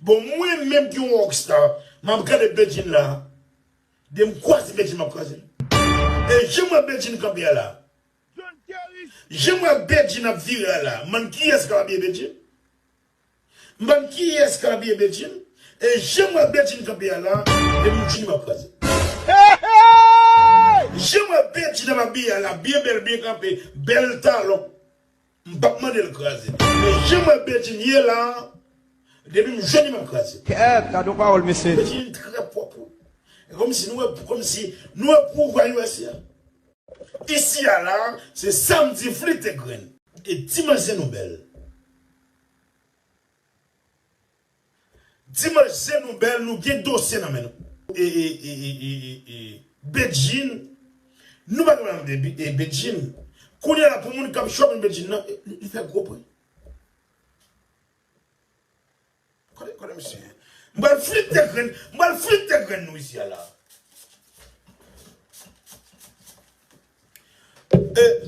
Bon mwen menm ki yon rock star map gade Bedjine la de m kwaze Bedjine map kraze l e janm wè Bedjine kanpe a la janm wè Bedjine ap vire a la m bann kiyès kap abiye Bedjine m bann kiyès kap abiye Bedjine e janm wè Bedjine kanpe a la de m Bedjine map kraze l janm wè Bedjine ap abiye a la byen bèl byen kanpe bèl talon. M pap mandel kraze li men jan m wè Bedjine ye la depi m jwenn li map kraze l. Kèèt gad yon pawòl mesye. Bedjine trè pwòp wi. E komsi nou e komsi nou e pwouva usa. Isi a la se sam di flite grenn. E ti manzè nou bèl. Dimanche zen nou bèl nou gen dosye nan men nou. Eeeeeeee Bedjine Nou pa konn anyn de Bedjine Kounya la pou moun kap chòm Bedjine nan li fè gwo bri Kote kote misye ye M pral flite de grenn m pral flite de grenn nou isi a la.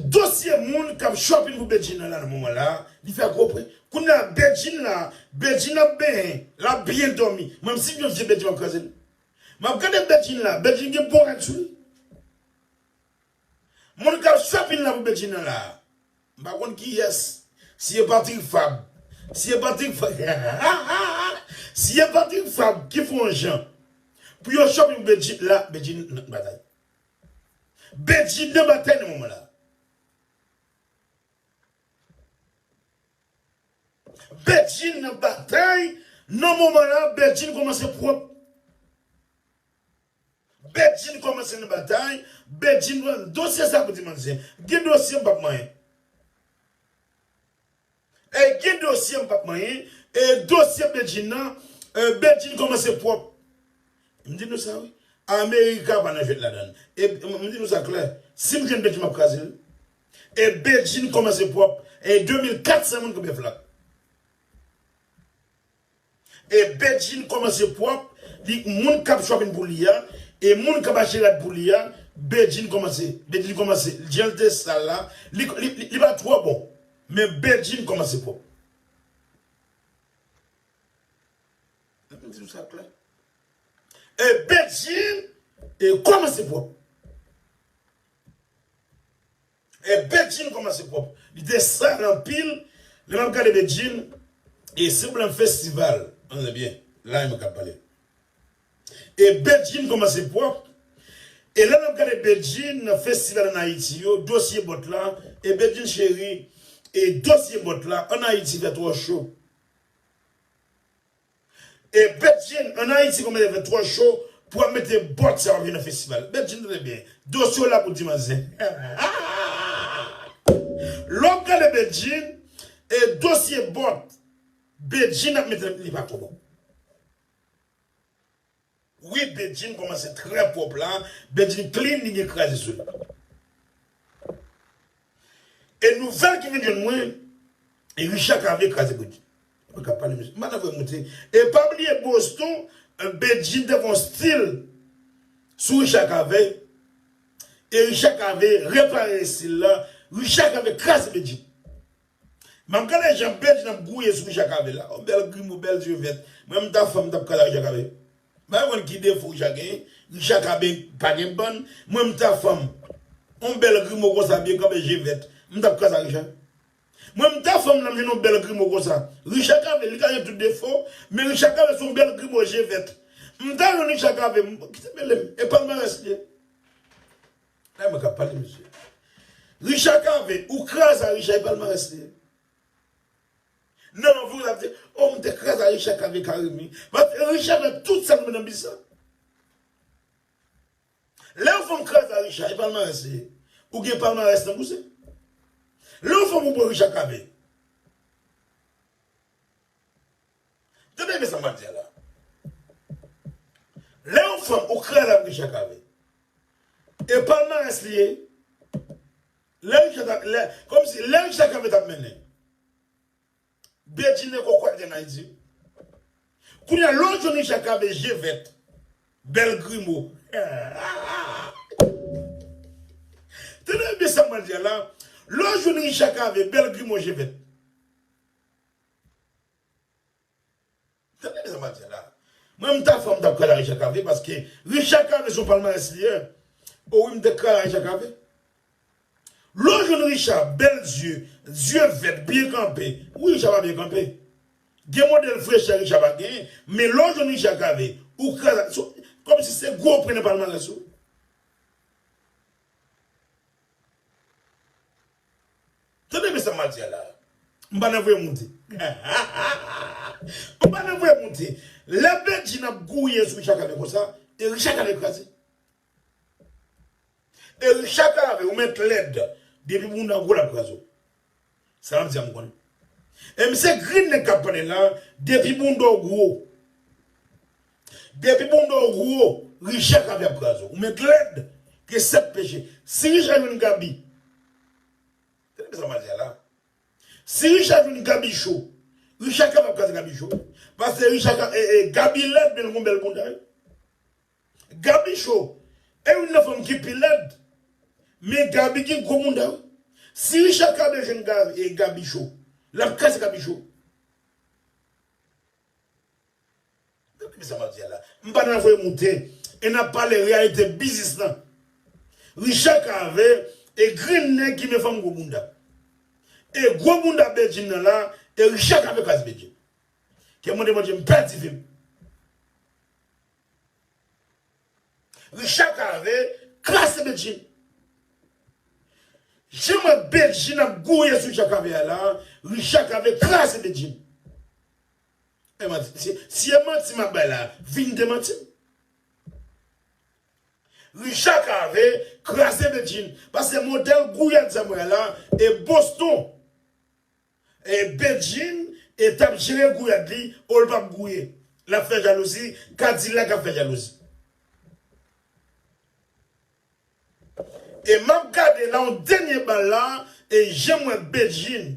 Dosye moun kap shopping pou Bedjine la nan moman la li fè gwo pri kounya Bedjine la Bedjine ap benyen lap byen dòmi mwen m si m yon vye Bedjine map kraze l map gade Bedjine la Bedjine gen bon rad sou li moun kap shopping la pou Bedjine nan la m pa konn kiyès si e pa Trik Fab si e pa Trik Fab hahahaa si e pa Trik Fab ki fè yon jan pou yo shopping pou Bedjine la Bedjine nan batay. Bedjine nan batay nan moman la. Bedjine nan batay nan moman la Bedjine komanse pwòp. Bedjine komanse nan batay Bedjine pran dosye sa pou di manzè gen dosye m pap manyen. Ey gen dosye m pap manyen e dosye Bedjine nan euh Bedjine komanse pwòp m di nou sa wi America pa nan jwèt ladann e m di nou sa klè si m jwenn Bedjine map kraze l e Bedjine komanse pwòp e 2400 moun k bèf la. E Bedjine komanse pwòp li k moun kap chòpin pou li a e moun kap achte rad pou li a Bedjine komanse Bedjine komanse janl te sal la li li pa twò bon men Bedjine komanse pwòp. Fòk m di nou sa klè e Bedjine komanse pwòp. E Bedjine koman se pwop. Li te sal anpil lè map gade Bedjine e si problème festival an tande byen la e mwen kap pale e Bedjine koman se pwop e lè nap gade Bedjine nan festival an Ayiti yo dosye bòt la e Bedjine cheri e dosye bòt la an Ayiti fè twò cho. E Bedjine an Ayiti konbyen lè fè twò cho pou wap mete bòt sa wap jwe nan festival Bedjine tande byen dosye w la pou di manzè lè wap gade Bedjine e dosye bòt Bedjine ap mete li pa twò bon. Wi Bedjine komanse trè pwòp la Bedjine clean li gen kraze sou li e nouvèl ki vin jwenn mwen Richard ka vle kraze Bedjine mwen kap pale mesye mpa ta vwe moute e pa bliye Boston Bedjine te fon stil sou Richard Cavé e Richard Cavé repare estil la Richard Cavé kraze Bedjine. Map gade jan Bedjine ap gouye sou Jakave la oh bèl grimo bèl yeux vèt mwen m ta fanm m tap kale ak Jakave bay konn ki defo jak genyen Jakave pa gen bann mwen m ta fanm on bèl grimo konsa byen kanpe je vèt m tap kase ak Richard mwen m ta fanm lèm jwenn on bèl grimo konsa Richard Cavé li ka gen tout defo men Richard Cavé son bèl grimo je vèt m ta jwenn Richard Cavé m kite mele m e palmarès li ye. Gade mwen kap pale mesye. Richard Cavé ou kraze a Richard e palmarès li. Nan anvi w lap di oh m te kraze a Richard Cavé Carimi. Bat Richard fè tout sa l nan biznis la. Lè yon fanm kraze a Richard e palmarès li. Ou gen palmarès nan bouse. Lè yon fanm ou pran Richard Cavé. Tande men sa map di a la. Lè yon fanm ou kreye lap gen chak avèl. E palmarès li ye. Lè Richard tap lè kòm si lè Richard Cavé tap mennen. Bedjine kòkwè te gen nan Ayiti wi. Kounya lè w jwenn Richard Cavé je vèt, bèl grimo. Tande byen sa map di a la. Lè w jwenn Richard Cavé bèl grimo je vèt. Tande sa map di la. Mwen mta fò mtap kral a Richard Cavé paske Richard Cavé son palmarès li ye o wi mte kral a Richard Cavé. Lè w jwenn Richard bèl zye, zye vèt, byen kanpe, wi Richard pa byen kanpe. Gen modèl frechè Richard pa genyen men lè w jwenn Richard Cavé ou kral a son kòm si se gwo pwen nan palmarès ou. Tande byen sa map di a la. M pa nan vre moute. M pa nan vre moute. Lè Bedjine ap gouye sou Richard Cavé konsa, e Richard Cavé kraze. E Richard Cavé ou mèt lèd depi moun nan gou lap kraze w. Sa map di a m konn. E m se grin nèg kap pale la depi moun nan w gou. Depi bounda w gwo Richard kap yap kraze w. Ou met lèd gen 7 peche. Si Richard jwenn Gaby Tande sa map di a la Si Richard jwenn Gaby cho Richard kapab kraze Gaby cho wi Paske Richard ka Gaby lèd men li gon bèl bounda wi Gaby cho e youn nan fanm ki pi lèd Men Gaby gen gwo bounda wi Si Richard kabe jwenn Gaby cho Lap kraze Gaby cho. Gade mizè map di a la. M pa nan voye moute e nap pale reyalite biznis lan. Richard Cavé e grenn nèg ki men fanm gwo bounda. E gwo bounda Bedjine nan la e Richard Cavé kras Bedjine. Kèm mande Bondye m pèdi vi m. Richard Cavé kras Bedjine. Jan m wè Bedjine ap gouye sou Richard Cavé a la, Richard Cavé kras Bedjine. Eman di, si si e manti map bay la, vin demantim. Richard Cavé kraze Bedjine paske modèl gouyad sa mwen wè la e Boston e Bedjine e tap jere gouyad li o l pap gouye lap fè jalouzi kadilak ap fè jalouzi e map gade la yon dènye bal la e janm wè Bedjine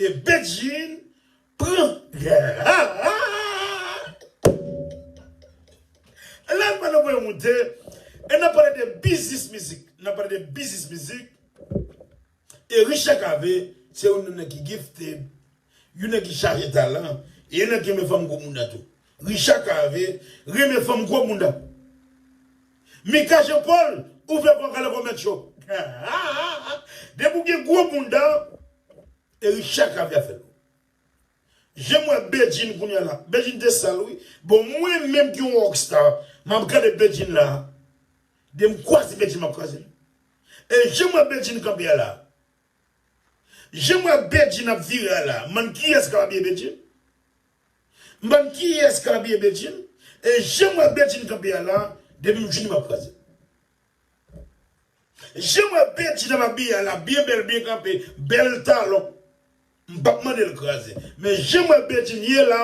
E Bedjine pran Lè m pale voye moute E n ap pale de biznis mizik N ap pale de biznis mizik E Richard Cavé se youn nan nèg ki gifted Youn nèg ki chaje talan E youn nèg ki renmen fanm gwo mounda tou Richard Cavé renmen fanm gwo mounda Mika Jean Paul ouvè bwa kale komèt yo depi ou gen gwo bounda e Richard Caviar fè lou janm wè Bedjine kounya la Bedjine te sal wi bon mwen menm ki yon rock star map gade Bedjine la dem kwaze Bedjine map kwazel e janm wè Bedjine kanpe a la janm wè Bedjine ap vire a la m'en kiyès kap abiye Bedjine. M bann kiyes ka abiye Bedjine e janm wè Bedjine kanpe a la depim fini map kraze janm wè Bedjine ap abiye a la byen bèl byen kanpe bèl talon m pap mandel kraze men janm wè Bedjine ye la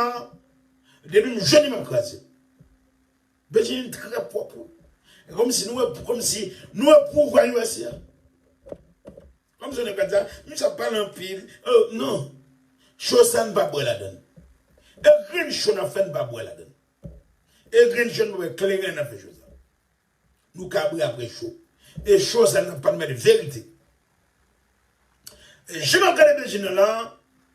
depim jwenn li map kraze Bedjine trè pwòp wi e kòmsi nou wè kòmsi nou wè pouvwa usa. Kom jèn ankad sa, misye ap pale anpil oh non Cho sa n pa bwè ladann e grenn cho n ap fè n pa bwè ladann e grenn cho n pa bwè kleren nan fè cho sa nou kabre apre cho e cho sa n ap pale verite jan m ap gade Bedjine la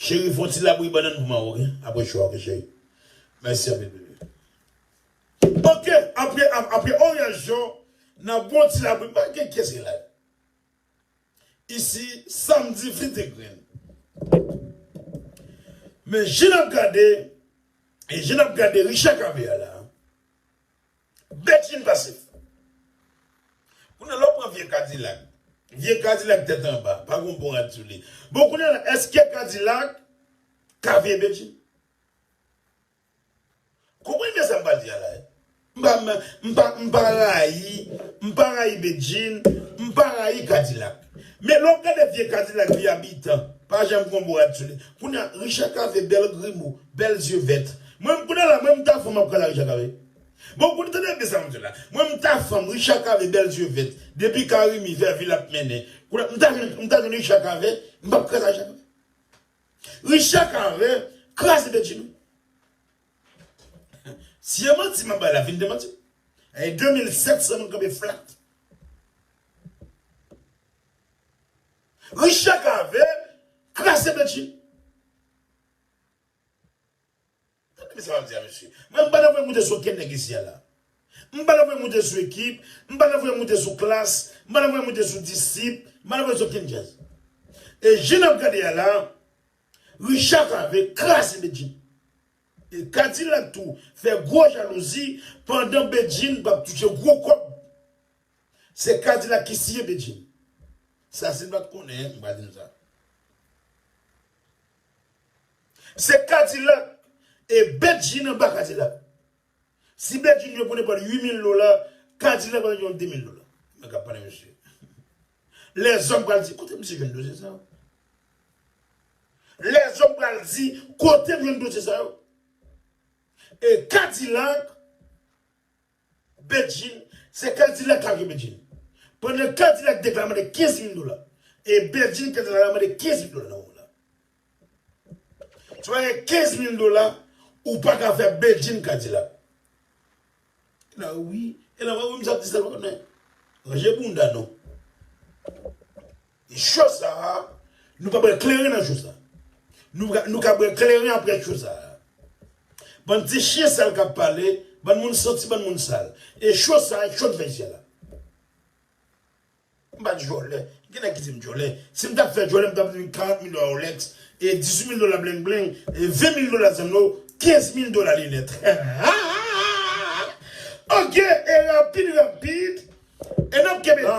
Cheri fon ti labouyi bannann pou manman ok aprè cho a ok cheri mèsi anpil bby. Ok aprè aprè oranj yo nan bon ti labouyi m pa gen kyes ki la isi sam di vin te grenn men je nap gade je nap gade richa caviar la. Bèt fin pase. Kounye a la w pran vye kadilak. Vye kadilak tèt anba. Pa gen yon bon rad sou li. Bon kounye a la èske kadilak ka veye Bedjine? Konprann byen sa m pral di a la. M pa rayi, m pa rayi Bedjine, m pa rayi kadilak. Men lè w gade vye kadilak vye abitan pa janm gen yon bon rad sou li. Kounye a Richard Cavé bèl grimo, bèl zye vèt. Mwen menm kounye a la mwen m ta fanm ap kale a Richard Cavé. Bon kout tande byen sa map di la mwen m ta fanm Richard cavé bèl zye vèt depi carimi vèvi lap mennen koulè m ta jwenn m ta jwenn Richard cavé m pap kraze ajan mwen Richard cavé kraze bedjine ou si e manti map bay la vin demanti m e 2700 moun kanpe flat Richard cavé kraze bedjine. Tande sa wap di a mesye. Mwen m pa ta voye moute sou okenn nèg isi a la. M pa ta voye moute sou ekip, m pa ta voye moute sou klass, m pa ta voye moute sou disip, m pa ta voye sou okenn djaz. E jan nap gade a la, Richard Cavé kraze Bedjine. E Kadilak tou fè gwo jalouzi pandan Bedjine pap touche gwo kòb. Se Kadilak ki siye Bedjine. Sa si n pat konnen, m pa di n sa. Se kadilak e bedjine anba kadilak si bedjine jwe pou nepal 8 mil dola kadilak pral jwenn 2 mil dola nèg kap pale mesye lèzòm pral di kotem si jwenn dosye sa yo lèzòm pral di kotem jwenn dosye sa yo e kadilak Bedjine, se K-dilak la ki Bedjine. Pandan K-dilak deklare mande 15 mil dola, e Bedjine K-dilak la mande 15 mil dola nan moman nan. Si w pa gen 15 mil dola, ou pa ka fè Bedjine K-dilak. E la wi, e la vre wi misye ap di sa l pa konnen. Ranje bounda nou. Cho sa a, nou pa bwè kleren nan cho sa a. Nou ka nou ka bwè kleren aprè cho sa a. Bann ti chyen sal k ap pale, bann moun santi, bann moun sal. E cho sa a cho dvèy syèl la. M pa djòlè. Gen nèg ki di m djòlè. Si m t ap fè djòlè, m t ap vin 40 mil dola Rolex, 18 mil dola bleng bleng, 20 mil dola zanno, 15 mil dola linèt. Hahahahaha! Ok, e rapid rapid, e n ap kenbe la.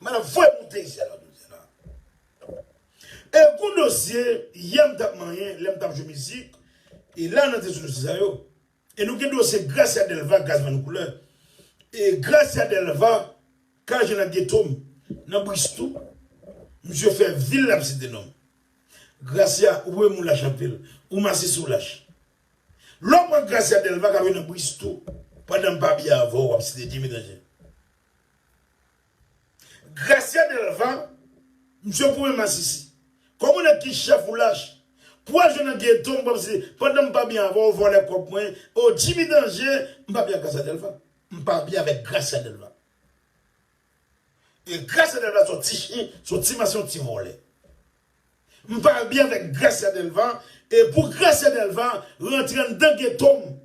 Mwen ap voye moute zen nan do zen nan. E gon dosye yè m tap manyen lè m tap jwe mizik e la nan te sou dosye sa yo. E nou gen dosye Gracia Delva Gazman Koulè e Gracia Delva ka jwenn nan geto m nan Bristou misye fè vil lap site non m. Gracia ou wè mou lach anpil ou masisi ou lach. Lè w pran Gracia Delva kap jwenn nan Bristou pandan m pa byen avè w wap site Jimmy Danje. Gracia Delva misye goumen masisi. Koman nèg ki chèf ou lach. Pou al jwe nan ghetto m pap se pandan m pa byen avèw ou vòlè kòb mwen oh Jimmy danje m pa byen ak Gracia Delva. M pa byen avèk Gracia Delva. E Gracia Delva son ti chyen son ti mas yon ti vòlè. M pa byen avèk Gracia Delva e pou Gracia Delva rantre anndan ghetto m.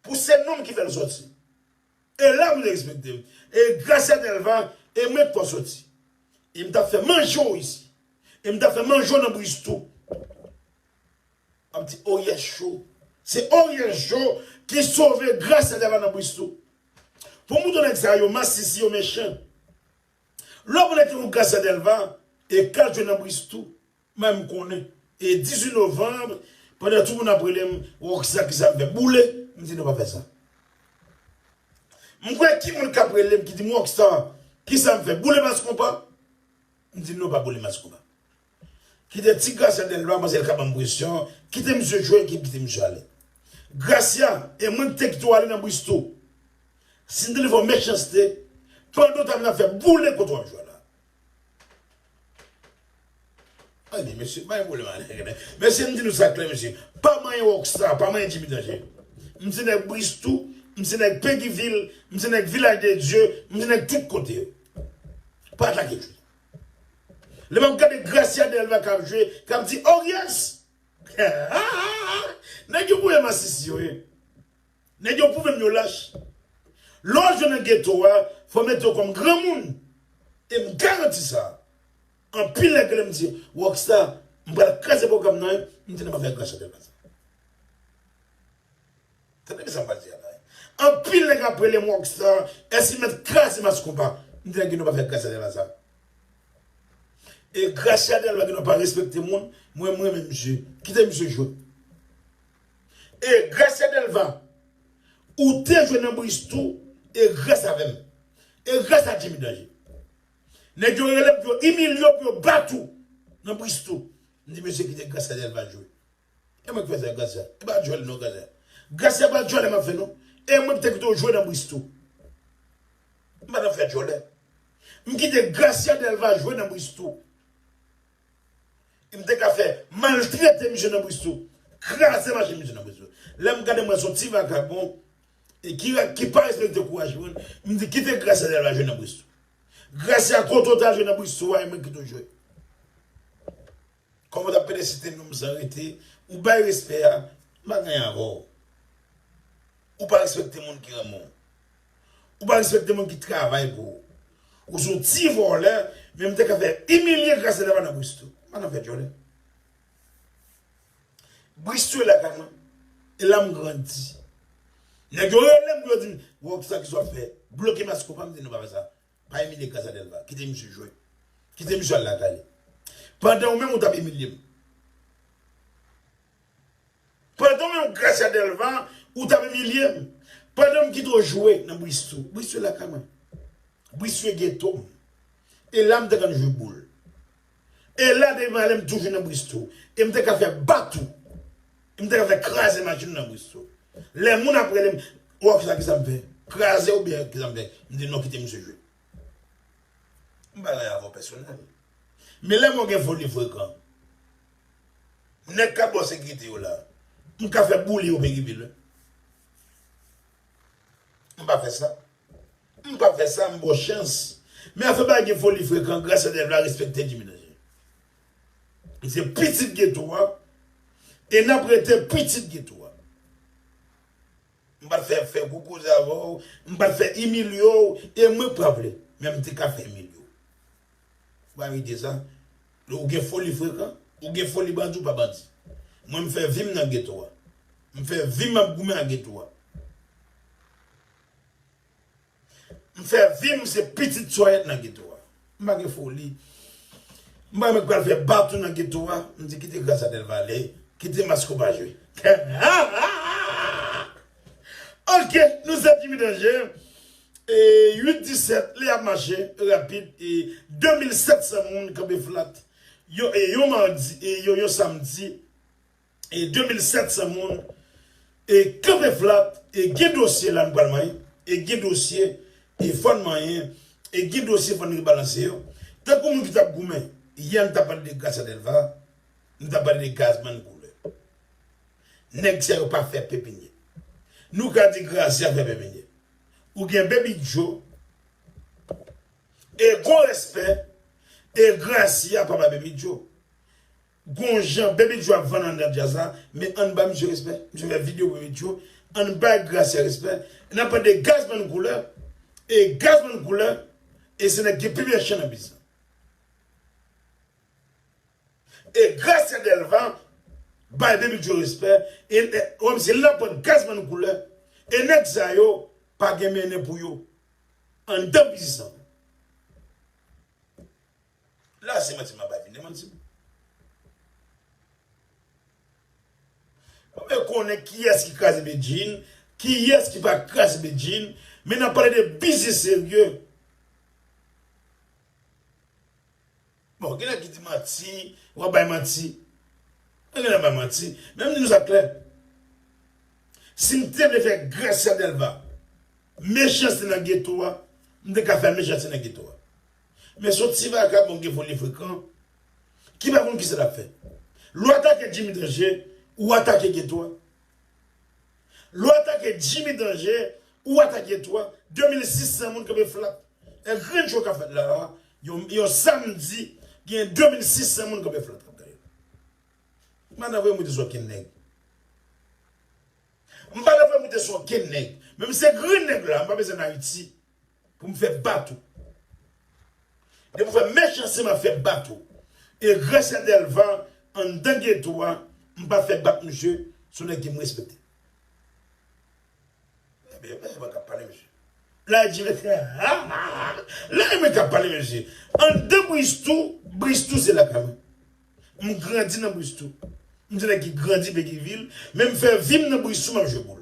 Pou se nou m ki fè l soti. E la moun respekte m. E gras a Dèlva e mwen k fè w soti. E m t ap fè manje w isi. E m t ap fè manje w nan Briz tou. Wap di Oryèl Cho. Se Oryèl Cho ki sove gras a Dèlva nan Briz tou. Pou mouton nèg sa yo masisi yo mechan. Lè w konnen ki moun gras a Dèlva e kal jwenn nan Briz tou. Mwen m konnen e 18 novembre pandan tout moun ap relem rocksa kisa m fè boule m di non pa fè sa m kwè ki moun kap relem ki dim rocksa kisa m fè boule mass konpa m di non pa boule mass konpa kite ti gracia delva manzè ka banm presyon kite misye jwe epi kite misye ale gracia e mwen ki te kite w ale nan bristo si m te vin fè w mechanste pandan w tap la fè boule kote wap jwe la. Tande mesye, bay pwoblèm a nèg la. Mesye m di nou sa klè mesye, pa manyen Rockstar, pa manyen Djimi Danje. M se nèg Bristou, m se nèg Peguivil, m se nèg Vilaj de Dye, m se nèg tout kote yo. Pa atake Djimi. Lè m ap gade Gracia Delva k ap jwe, k ap di Oryes! Nèg yo voye masisi yo ye. Nèg yo pwouvem yo lach. Lè w jwe nan geto a, fò w mete w kòm granmoun. E m garanti sa. Anpil nèg rele m di, Rock Star, m pral kraze pwogram nan, m tande bagay gran chantè konsa. Tande byen sa m pral di a la. Anpil nèg ap rele m Rock Star, èske m mèt kraze Mass Konpa? M di nèg yo nou pa fè Gracia Delva sa. E Gracia Delva ki nou pa respekte moun, mwen m renmen misye. Kite misye jwe. E grès e Delva ou te jwe nan Bristou e grès avè m e grès a Jimmy Danje. Nèg yo rele pou yo imilye w pou yo bat ou nan Bristou. M di mesye kite grès a Delva jwe. E mwen ki fè sa grès a. E pa djòl non grès a. Grès a pa djòlè m ap fè non. E mwen ki te kite w jwe nan Bristou. M pa t ap fè djòlè. M kite grès a Delva jwe nan Bristou. M te ka fè maltrete misye nan Bristol, kraze machin misye nan Bristol. Lè m gade m wè se yon ti vagabon ki pa respekte kouraj moun, m di kite Gracia li al jwe nan Bristol. Gracia kote w te al jwe nan Bristol a e mwen kite w jwe. Kòman w ta pede site non m san rete, ou bay respè a, m pa gen anyen avè w. Ou pa respekte moun ki renmen w. Ou pa respekte moun ki travay pou ou. Ou son ti vòlè menm te ka fè imilye grase lè madan Bristol. Madan fè djòl. Bristol e lakay mwen. E la m grandi. Nèg yo relem pou yo dim bro kisa kisa wap fè. Bloke maske ou pa m di non pa fè sa. Pa imilye grasa delva. Kite misye jwe. Kite misye al lakay li. Pandan ou menm ou tap imilye m. Pandan menm Gracia Delva ou tap imilye m pandan m kite w jwe nan Bristol Bristol lakay mwen Bristol geto m e la m te konn jwe boul e la depi m ale m toujou nan Bristol e m te ka fè bat ou e m te ka fè kraze machin ou nan Bristol lè moun ap rele m Rock sa kisa m fè kraze ou byen kisa m fè m di non kite misye jwe m pa la avè w pèsonèl men lè m wè w gen foli frekan. Nèg kap baw sekirite yo la m ka fè boule yo peguivil wi m pa fè sa m pa fè sa m baw chans men afè bagay gen foli frekan gras a Dev la respekte Jimmy Danje li se pitit geto a e lap rete pitit geto a. M pa fè fè gwo koze avè w, m pa fè imilye w e mwen pa vle, men m te ka fè imilye w. Ou pa rete sa? Ou gen foli frekan? Ou gen foli bandi ou pa bandi? Mwen m fè vi m nan geto a. M fè vi m ap goumen ak geto a. M fè vi m se pitit sòyèt nan geto a. M pa gen foli. M pa menm k pral fè baton nan geto a. M di kite gras a Dèlma ale, kite Maskoba jwe. Ok, nou se Djimi Danje. 8 17 lè ap mache rapid e 2700 moun kanpe flat yon samdi. e 2700 moun e kanpe flat e gen dosye la nou pral manyen e gen dosye e fòn manyen e gen dosye fòn rebalanse yo tankou moun ki tap goumen yè nou tap pale de Gracia Delva nou tap pale de Gazman Couleur nèg sa yo pa fè pepinye nou ka di Gracia fè pepinye ou gen Baby Joe e gon respè e Gracia pa bay Baby Joe. Gon jan Bebe Joe ap vann anndan djaz la men ann ba misye respè misye fè video pou Bebe Joe ann bay Gracia respè nan pale de Gazzman Couleur e Gazzman Couleur e se nèg ki gen pi bèl chan nan biz la e Gracia Delva bay Bebe Joe respè e wè misye la pwen Gazzman Couleur e nèg sa yo pa gen mennen pou yo anndan biznis la. La se manti map bay vin demanti m. Mwen vle konnen kiyès ki kraze Bedjine, kiyès ki pa kraze Bedjine, men nan pale de biznis serye. Bon, gen nèg ki di manti, wap bay manti. Mwen gen lè m bay manti, men m di nou sa klè. Si m te vle fè Gracia Delva mechanste nan geto a, m te ka fè l mechanste nan geto a. Men son ti vagabon gen vole frekan ki pa konn kisa lap fè. Lè w atake Jimmy Danje ou atake geto a. Lè w atake Jimmy Danje ou atake geto a. 2600 moun kanpe flat. E grenn cho kap fèt la a yon samdi gen 2600 moun kanpe flat. M'pata vle moute sou okenn nèg. M'pata vle moute sou okenn nèg. Menm se grenn nèg la m'pa bezwen Haiti Pou m fè bat ou. Depi m wè mechanste m ap fè bat ou. Egrè sè Dèlva anndan geto a m pa fè bat misye se yon nèg ki m respekte. Lè mwen k ap pale mesye. Lè di m fè ha ha ha. Lè mwen k ap pale mesye. Anndan Bristou, Bristou se lakay mwen. M grandi nan Bristou. M se nèg ki grandi Petyvil, men m fè vi m nan Bristou m ap jwe boul.